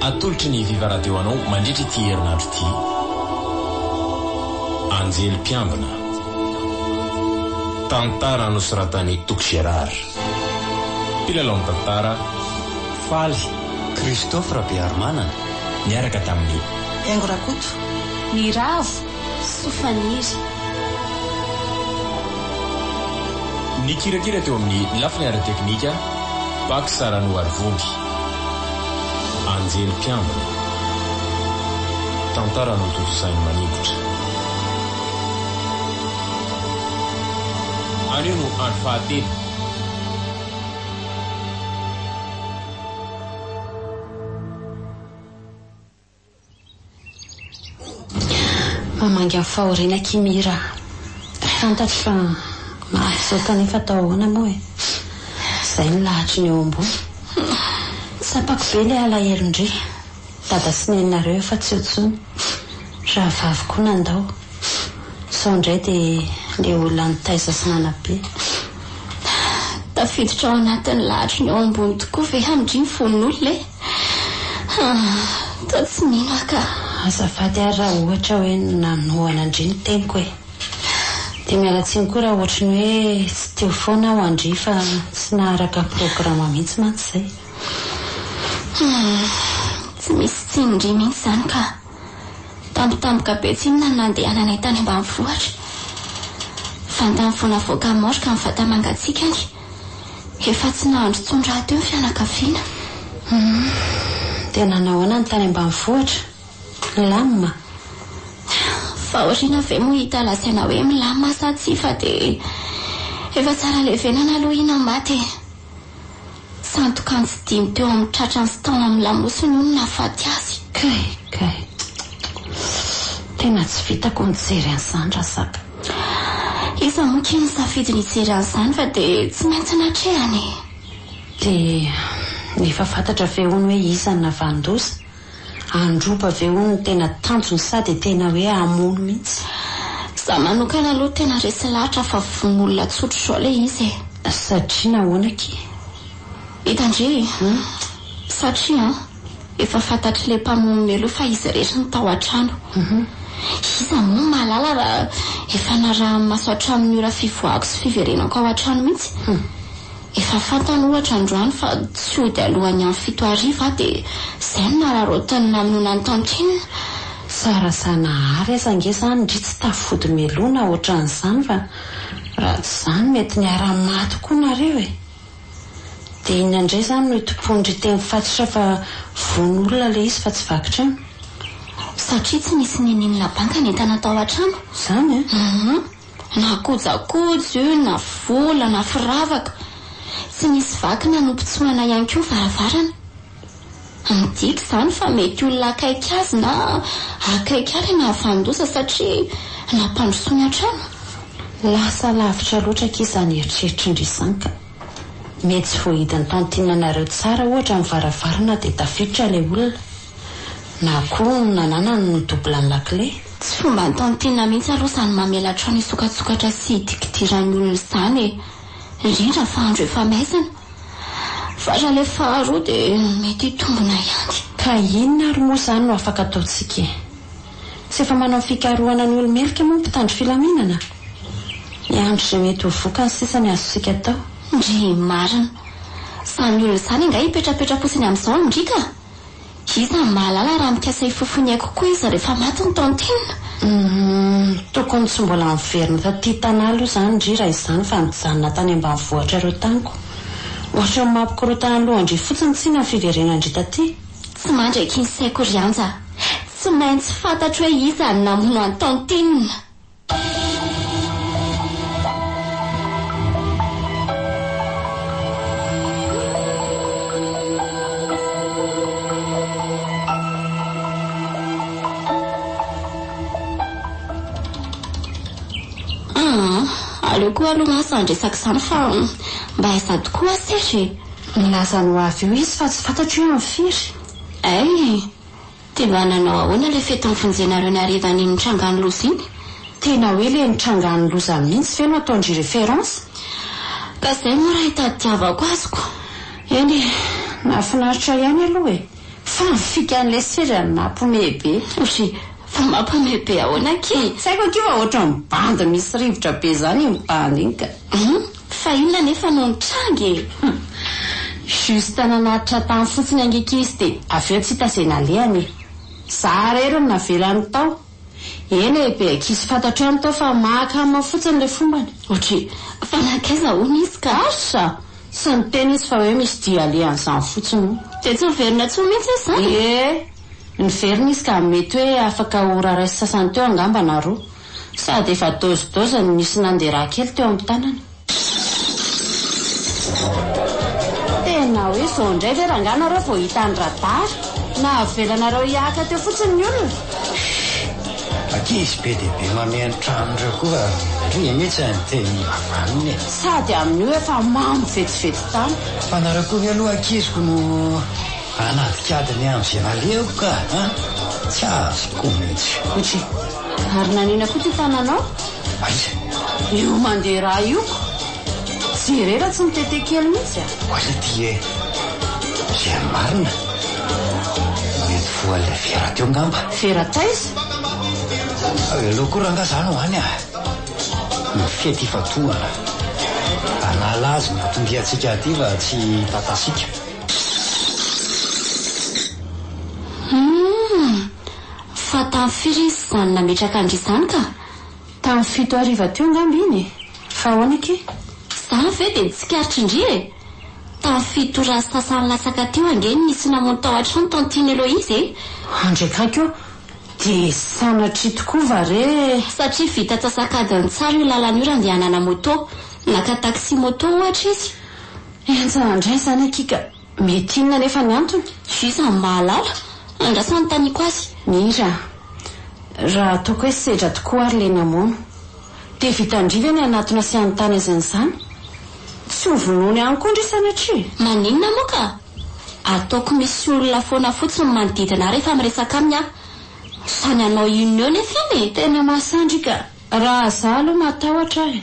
Atolotry ny Viva Radio anao mandritra ity herinandro ity, Anjely Mpiambina. Tantara nosoratan'i Toky Gérard. Mpilalao ny tantara, Faly. Christophe Rabearimanana, niaraka tamin'i. Hengo Rakoto. Ny Ravo. Soa faniry. Nikirakira teo amin'ny lafiny ara-teknika, Bax Ranoarivondy. Anjely mpiambina. Tantara notontosain'i Maningotra. Anio no andro fahatelo. Mamangy amin'ny fahoriana akia Mira a! Fantatro fa mafy izao kanefa atao ahoana moa e! Izay ny lahatry ny eo ambony. Tsapako be ilay alahelon-dry dada sy neninareo eo fa tsy eo intsony. Rahavavy koa nandao. Sao indray dia ilay olona nitaiza sy nanabe. Tafiditra ao anatin'ny lahatry ny eo ambony tokoa ve amin-dry ny fon'olona e! Haa toa tsy mino ka. Azafady ary raha ohatra hoe nanohana ndry ny teniko e! Dia miala tsiny koa raha ohatry ny hoe tsy teo foana aho ndry fa tsy naharaka programa mihitsy mantsy izay. Humm tsy misy tsiny ndry mihitsy izany ka! Tampotampoka be tsinona ny nandehananay tany ambanivohitra. Vantany vao navoaka ny maorka ny vata-mangatsiakany. Efa tsy nahandro intsony rahateo ny fianakaviana. Humm. Dia nanahoana ny tany ambanivohitra? Milamina? Fahoriana ve moa hita lazaina hoe milamina sa tsia fa dia efa tsara levenana aloha i Namath e! Sandoka an-tsidiny teo amin'ny tratrany sy tao amin'ny lamosiny hono nahafaty azy. Kay! Kay! Tena tsy vitako ny mijery an'izany Razaka. Iza moa kay no safidy ny hijery an'izany fa dia tsy maintsy natrehany e! Dia efa fantatra ve hono hoe iza no navanon-doza? Handroba ve hono no tena tanjony sa dia tena hoe hamono mihitsy? Izaho manokana aloha tena resy lahatra fa vono olona tsotra izao ilay izy e! Satria nahoana akia? Hitandria e! Satria an! Efa fantatry le mpamono melo fa izy rehetra no tao an-trano. Iza moa no mahalala raha efa naraha-maso hatramin'ny ora fivoahako sy fiverenako ao an-trano mihitsy. Efa fantany ohatra androany fa tsy hody alohan'ny amin'ny fito hariva aho dia izay no nararaotiny namonoana an'i Tantine. Sa raha Zanahary aza ange izany ndry tsy tafody meloana ohatran'izany fa raha tsy izany mety niara-maty koa nareo e! Dia iny indray izany no itompoan-dry teny fatratra fa vono olona ilay izy fa tsy vaky trano. Satria tsy nisy nininona banka nentana tao an-trano. Izany an! Hum. Na kojakoja io, na vola, na firavaka. Tsy nisy vaky na nopitsohana ihany koa ny varavarana. Adika izany fa mety olona akaiky azy na akaiky ahy ilay nahafahan-doza satria nampandrosoany hatrany. Lasa lavitra loatra akia izany eritreritrin-dry Santa. Mety tsy voahidin'ny tantinanareo tsara ohatra ny varavarana dia tafiditra ilay olona. Na koa nananany ny double ny lakile. Tsy fomban'ny tantinina mihitsy aloha izany mamelatra ny sokatsokatra sy hidikidiran'ny olona izany e. indrindra fa andro efa maizina, farany le faharoa de mety hitombona ihany. Ka inona ary moa izany no afaka ataontsika e? Tsy efa manao fikarohana ny olo-merika moa ny mpitandro filaminana? Miandry izay mety ho vokany sisa ny azontsika atao. Ndrii marina. Izany olona izany angaha hipetrapetra-potsiny amin'izao an-dry ka? Iza no mahalala raha mikasa hifofo ny aiko koa izy rehefa maty ny tantine? Humm tokony tsy mbola niverina taty Tana aloha izany ndry raha izany fa nijanona tany ambanivohitra ireo taniko. Ohatran'ny mampikorontana ny lohan-dry fotsiny tsinona ny fiverenan-dry taty. Tsy mandry aky ny saiko ry Anja a! Tsy maintsy fantatro hoe iza no namono an'i tantine! Aleo koa aloha mantsy zany resaka izany fa mba aiza tokoa aho Serge e? Nilaza ny ho avy eo izy fa tsy fantatro hoe amin'ny firy. Hay e! De mba nanao ahoana le fety nifonjenareo ny hariva an'iny nitrangan'ny loza iny? Tena hoe le nitrangan'ny loza mihintsy ve no ataondry reference? Ka zay moa raha itadiavako azy ko. Eny e, nahafinaritra ihany aloha e! Fa ny fikan'ilay seza no mampihomehy be. Ory, fa mampihomehy be ahoana akia? Tsy haiko akia fa ohatran'ny bandy misy rivotra be zany iny bandy iny ka. Hum, Fa inona anefa no nitranga e? Humm! Juste nanatitra tany fotsiny ange k'izy dia avy eo tsy hita izay nalehany e! Za irery no navelany tao. Eny e, be ankizy fantatro ihany tao fa mahakama fotsiny ilay fombany. Ohatry, fa nankaiza hono izy ka? Asa! Tsy niteny izy fa hoe misy dia alehan'izany fotsiny hono. Dia tsy niverina intsony mihitsy izy izany? Ee, niverina izy ka mety hoe afaka ho raha ray sy sasany teo angamba na roa. Sady efa dose dose no nisy nanderaha kely teo am tanana. Tena hoe izao indray ve rangah nareo vao hita ny radary? Nahavelanareo hihaka teo fotsiny ny olona? Ankizy be dia be mamehy ny trano ireo koa ry mitsy ny teny ivavaniny e! Sady amin'io efa mamo vetivety tany. Fa nareo koa ve aloha ankiziko no hanadikady ny andro izay nalehoko ka an! Tsy azoko mitsy. Ohatry. Ary nanina koa ty tananao? Aia? Io mandeha rà io ko! Jere ra tsy mitete kely mihitsy a! Aia ty e! Zay marina? Mety voan'ilay vera teo ngamba? Vera taiza? Aleo koa rangah za no any a! Ny fety ifatohana! Anala azy ny anton-diantsika aty fa tsy tatasika! Humm! Fa tamin'ny firy izy izany nametraka an-dry izany ka? Tamin'ny fito hariva teo angamba iny e! Fa ahoana ike? Za ve dia tsikaritr'ndry e! Tamin'ny fito ora sy sasany latsaka teo ange no nisy namono tao an-trano tao Antiny Eloise e! Andry akaiky eo dia sanatria tokoa va re? Satria vita antsasak'adiny tsara io lalana io raha andehanana moto. Naka taxi moto ohatra izy. Henjana indray izany akia ka! Mety inona anefa ny antony? Juice no mahalala? Angaha sa anontaniako azy? Mira a! Raha ataoko hoe sedra tokoa ary le namono, dia vitan-dry ve ny hanatona sy hanontany azy an'izany? Tsy ho vonoiny ihany koa ndry sanatria? Maninona moa ka? Ataoko misy olona foana fotsiny ny manodidina ahy rehefa miresaka aminy aho. Samy hanao inona eo nefa iny e! Tena mahasandry ka! Raha za aloha matahotra aho e!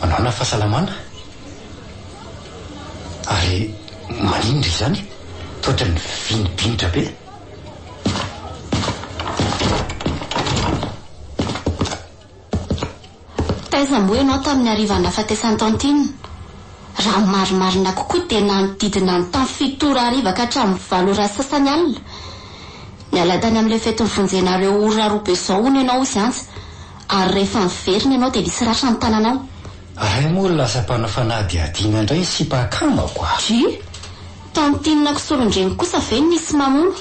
manana fahasalamana ary maninona izany toetra ny vinibinitra be taiza moa ianao tamin'ny hariva nahafatesan'i tantine raha ny marimarina kokoa dia nanodidina ny tamin'ny fito ora hariva ka hatramin'ny valo ora sy sasany alina niala tany amin'ilay fetin'ny vonjenareo ora roa be izao hono ianao hozy antsa Ary rehefa niverina ianao dia nisy ratra ny tananao. Ahay moa lasa mpanao fanadihadiana indray ny sipa akamako a! Dry! Tantinina kisolon-dreny kosa ve ny misy mamono?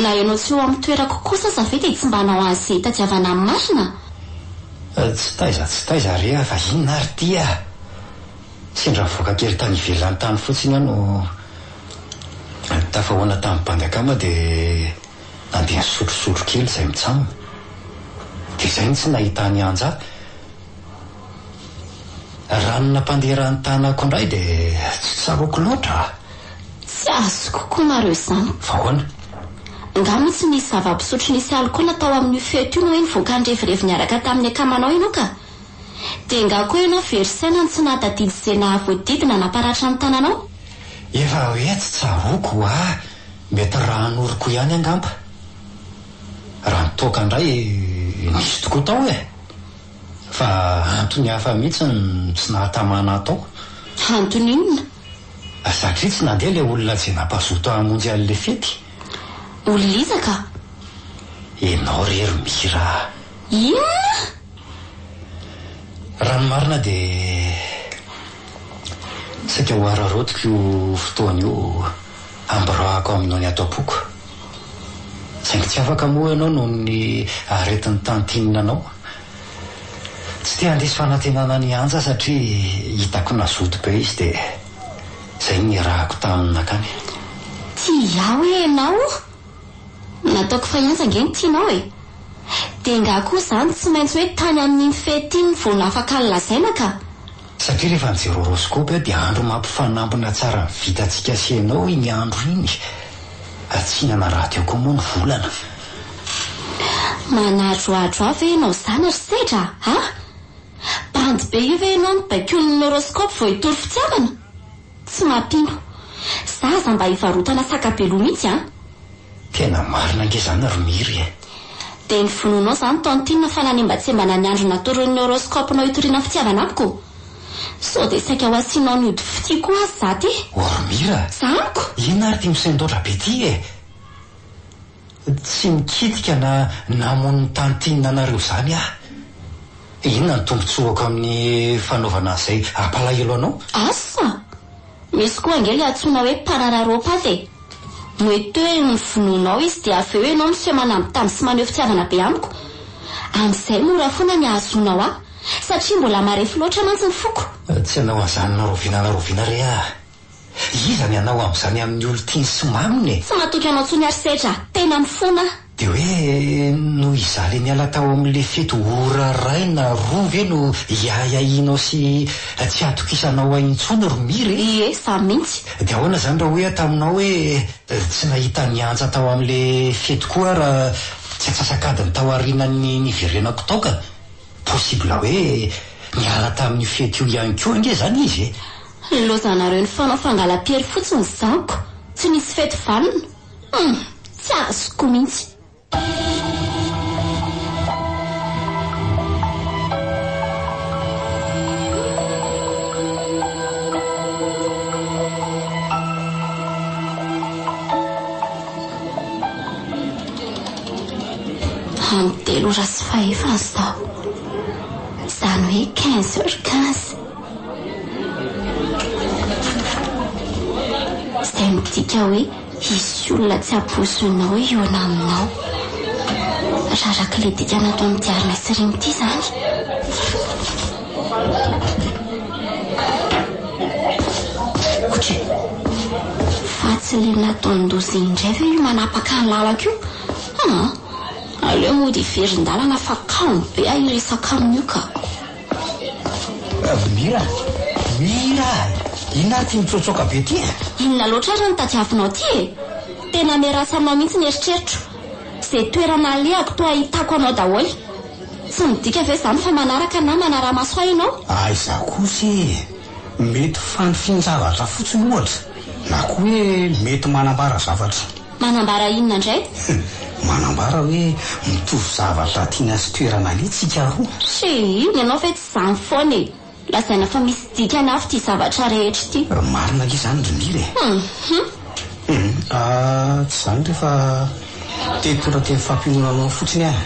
Na ianao tsy eo amin'ny toerako kosa aza ve dia tsy mba hanao azy izay hitadiavana ny marina? Tsy taiza tsy taiza re a! Fa inona ary ity a! Sendra nivoaka kely tany ivelany tany fotsiny aho no tafahoana tamin'ny bandy akama dia. na dia ny sotrosotro kely izay mitsamina. Dia izay no tsy nahitany Anja. Raha ny nampanderan'ny tanako indray dia tsy tsaroako loatra. Tsy azoko koa nareo izany. Fa ahoana? Angaha moa tsy nisy zava-pisotro nisy alikaola tao amin'io fety io no hoe nivoaka nirevirevy niaraka tamin'ny akamanao ianao ka? Dia angaha koa ianao very saina no tsy nahatadidy izay nahavoadidy nanaparatra ny tananao? Efa hoe tsy tsaroako ho'a! Mety rà anoriko ihany angamba. Raha ny toaka indray nisy tokoa tao e! Fa antony hafa mihitsy no tsy nahatamana atao. Antony inona? Satria tsy nandeha ilay olona izay nampazoto hamonjy an'ilay fety. Olona iza ka? Ianao re ry Mira a! Inona? Raha ny marina dia saika ho araraotiko io fotoana io. Amborahako aminao ny ato am-poko, saingy tsy afaka moa ianao noho ny aretin'ny tantinina anao. Tsy te handiso fanantenana an'i Anja satria hitako nazoto be izy dia izay no niarahako taminy nankany. Tsy izaho hoe ianao o! Nataoko fa i Anja ange no tianao e! Dia ngah koa izany tsy maintsy hoe tany amin'iny fety iny vao nafaka ny lazaina ka! Satria rehefa mijery horoscope aho dia andro mampifanampina tsara ny vitantsika sy ianao iny andro iny ka tsy hihinana radio koa moa ny volana. Manadroadro ahy ve ianao zany ry Sedra a? Bandy be io ve ianao no baikoin'ny horoscope vao hitory fitiavana? Tsy mampino. Za aza mba hivarotana saka be loha mihitsy an! Tena marina ange zany ry Miry e! Dia ny vonoanao izany Tantine fa nanimbatsimbana ny andro natoron'ny horoscope nao hitoriana fitiavana amiko? Sao dia saika ho asianao ny ody fitia koa aza za ty? Ô ry Mira! Za amiko? Inona ary ty misendoatra be ty e! Tsy nikitika na namono ny tany tiananareo izany aho. Inona ny tombontsoako amin'ny fanaovana izay hampalahelo anao? Asa! Misy koa ange ilay antsoina hoe parararopata e! Mety hoe novonoinao izy dia avy eo ianao miseho manambitamby sy maneho fitiavana be amiko. Amin'izay mora foana ny hahazoanao ahy satria mbola marefo loatra mantsy ny foko. Tsy hanao an'izany na rahoviana na rahoviana re aho. Iza ny hanao amin'izany amin'ny olon-tiany sy maminy e? Tsy matoky anao intsony ary Sedra a! Tena mifona aho. Dia hoe noho izaho ilay niala tao amin'ilay fety ora iray na roa ve no hiahiahianao sy tsy hatokisanao ahy intsony ry Mira e? Ie, izaho mihitsy. Dia ahoana izany raha hoy aho taminao hoe tsy nahita ny antsa tao amin'ilay fety koa aho raha tsy atsasak'adiny tao aorianan'ny niverenako tao ka? Possible hoe niala tamin'io fety io ihany koa ange izany izy e? Hilozanareo ny fanao fangalam-piery fotsiny zako tsy nisy fety vanona hum tsy azoko mintsy. Amin'ny telo ora sy fahefany zao, izany hoe quinze heures quinze. Izay midika hoe hisy olona tsy hampoizinao hihaona aminao. Raha araka ilay dika nataon'i Diarna sy Remy ity izany. Ohatry fa tsy ilay nataon'i Ndozy indray ve io manapaka ny lalako io? Aa! Aleo mody hiverin-dalana fa kamo be aho hiresaka amin'io ka. Bravo Mira! Mira! Inona ary ty mitsôtsôka be ty e? Inona loatra ary ny tadiavinao ty e? Tena miarasa aminao mihitsy ny eritreritro. Ze toerana alehako toa ahitako anao daholo. Tsy midika ve izany fa manaraka na manara-maso ahy ianao? Aiza kosa e! Mety fanifinjavatra fotsiny ohatra, na koa hoe mety manambara zavatra. Manambara inona indray? Manambara hoe mitovy zavatra tiana sy toerana aleha tsika roa. Chérie, ny anao ve tsy izany foana e! Lazaina fa misy dikany hafa ity zavatra rehetra ity. Marina ange izany ry Mira e! Hum! Ah, tsy izany re fa te hitondra teny fampionona anao fotsiny aho.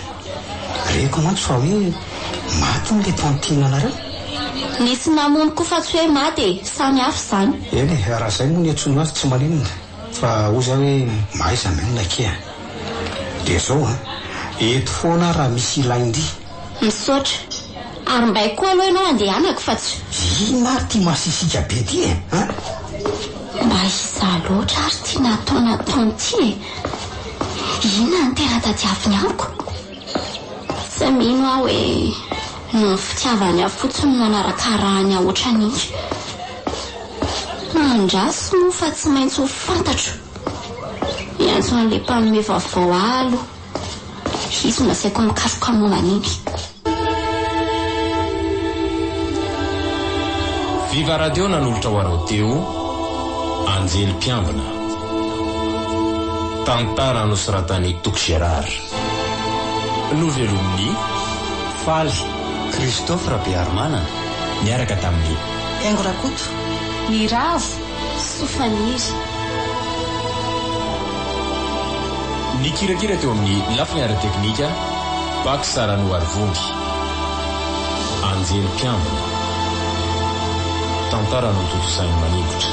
Reko mantsy fa hoe maty hono ilay tantine anareo? Nisy namono koa fa tsy hoe maty e! Samy hafa izany. Eny e, raha izay moa ny antsoinao azy tsy maninona. Fa hoy za hoe mahaiza an'io naki a! Dia zao an! Eto foana aho raha misy ilain-dry. Misaotra. Ary mbaiko koa aloha ianao handehanako fa tsy. Inona ary ity masisika be ity e an! Mba izaho loatra ary ity nataonataony ity e! Inona no tena tadiaviny amiko? Tsy mino aho hoe noho ny fitiavany ahy fotsiny no nanarakarahany ahy ohatran'intsy. Andraso moa fa tsy maintsy ho fantatro. Miantso an'ilay mpanome vaovao ahy aloha hisy no asaiko mikaroka momba an'iny. Viva Radio nanolotra ho anao teo, Anjely Mpiambina. Tantara nosoratan'i Toky Gérard. Novelomin'ny faly Christophe Rabeharimanana niaraka tamin'i Haingo Rakoto ny ravo sy faniry. Nikirakira teo amin'ny lafiny ara-teknika Bac Saranoarivongy. Anjely mpiambina. Tantara notontosain'i Maningotra.